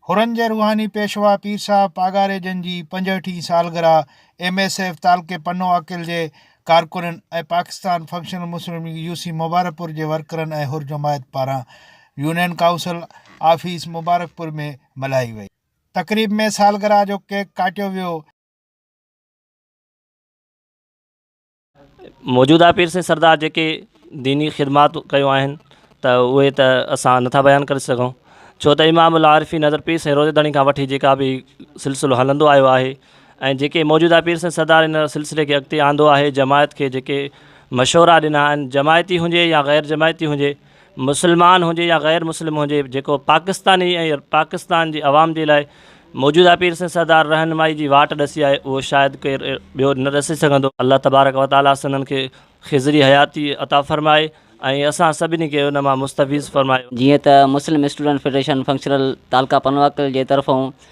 حرن جي روحاني پيشوا پير صاحب پاڳاري جن جي پنجهٺين سالگرهه ايم ايس ايف تعلقي پنو عاقل جي ڪارڪنن ۽ Pakistan functional Muslim league U C Mubarakpur جي ورڪرن ۽ حر جماعت پاران يونين ڪائونسل آفيس مبارڪپور ۾ ملهائي وئي. تقريب ۾ سالگرهه جو ڪيڪ ڪاٽيو ويو. موجوده پير سين سردار جيڪي ديني خدمات ڪيو آهن ته اهي ته اسان نٿا بيان ڪري سگهون ڇو ته امام العارفين حضرت پير سائين روضي ڌڻي کان وٺي جيڪا به سلسلو هلندو آيو آهي ۽ جيڪي موجوده پير سيد سردار ان سلسلي کي اڳتي آندو آهي جماعت کي جيڪي مشورا ڏنا آهن جماعتي هجي يا غير جماعتي هجي مسلمان هجي يا غير مسلم هجي جيڪو پاڪستاني ۽ پاڪستان جي عوام جي لاء موجوده پير سيد سردار رهنمائي جي واٽ ڏسي آهي اهو شايد ڪير ٻيو نه ڏسي سگهندو الله تبارڪ و تعالي سندن کي خضري حياتي عطا فرمائي ۽ اسان سڀني کي ان مان مستفيض فرمائي. جيئن ته مسلم اسٽوڊنٽ فيڊريشن فنڪشنل تعلقه پنواڪل جي طرفون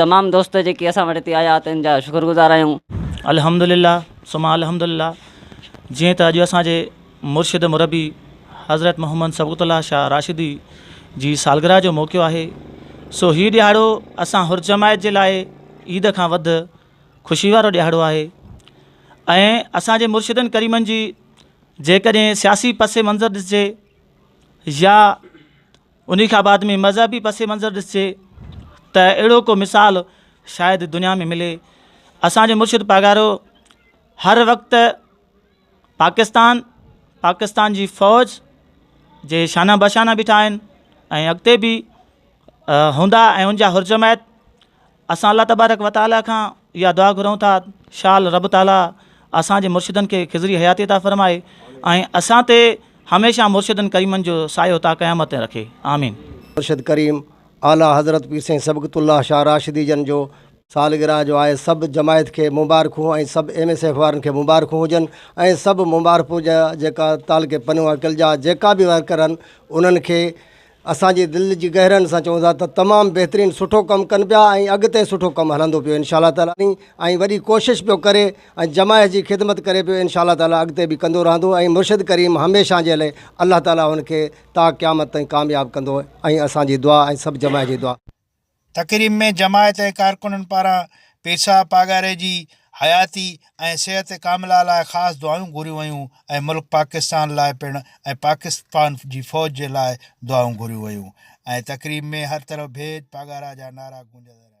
تمام دوست جيڪي اسان وٽ هتي آيا تن جا شڪرگذار آهيون. الحمدلله ثم الحمدلله جيئن ته اڄ اسان جي مرشد مربي حضرت محمد صبغت الله شاهه راشدي جي سالگرهه جو موقعو آهي سو هي ڏيهاڙو اسان حر جماعت جي لاء عيد کان وڌ خوشي وارو ڏيهاڙو آهي ۽ اسان جي مرشدن ڪريمن جي جيڪڏهن سياسي پس منظر ڏسجي يا انهي کان بعد ۾ مذهبي پس منظر ڏسجي ته اهڙو ڪو مثال شايد دنيا ۾ ملي اسان جو مرشد پاڳارو هر وقت پاڪستان پاڪستان جي فوج جي شانه بشانه بيٺا آهن ۽ اڳتي به هوندا ۽ ان جا حرجماعت اسان الله تبارڪ و تعاليٰ کان اها دعا گهرون ٿا شال رب تعاليٰ اسان جي مرشدن کي خضري حياتي عطا فرمائي ۽ اسان تي هميشه مرشدن ڪريمن جو سايو تا قيامت تائين رکي. آمين. مرشد ڪريم اعليٰ حضرت پير سائين صبغت الله شاهه راشدي جن جو سالگرهه جو آهي سڀ جماعت کي مبارڪون ۽ سڀ ايم ايس ايف وارن کي مبارڪون هجن ۽ سڀ مبارپور جا جيڪا تعلقي پنهونء ڪلجا جيڪا به ورڪر آهن انهن کي اسان جي دل جي گهرائين سان چئون ٿا ته تمام بهترين سٺو ڪم ڪن پيا ۽ اڳتي سٺو ڪم هلندو پيو انشاء الله تعالي ۽ وڏي ڪوشش پيو ڪري ۽ جماعت جي خدمت ڪري پيو انشاء الله تعالي اڳتي به ڪندو رهندو ۽ مرشد ڪريم هميشه جي لئي الله تعالي هن کي تا قيامت تائين ڪامياب ڪندو ۽ اسان جي دعا ۽ سڀ جماعت جي دعا تقريب ۾ جماعت جي ڪارڪنن پاران پيرصاحب پاڳاري جي حياتي ۽ صحت ڪامله لاء خاص دعائون گهريون ويون ۽ ملڪ پاڪستان لاء پڻ ۽ پاڪستان جي فوج جي لاء دعائون گهريون ويون ۽ تقريب ۾ هر طرف ڀيد پاڳارا جا نعرا گونجندا رهيا.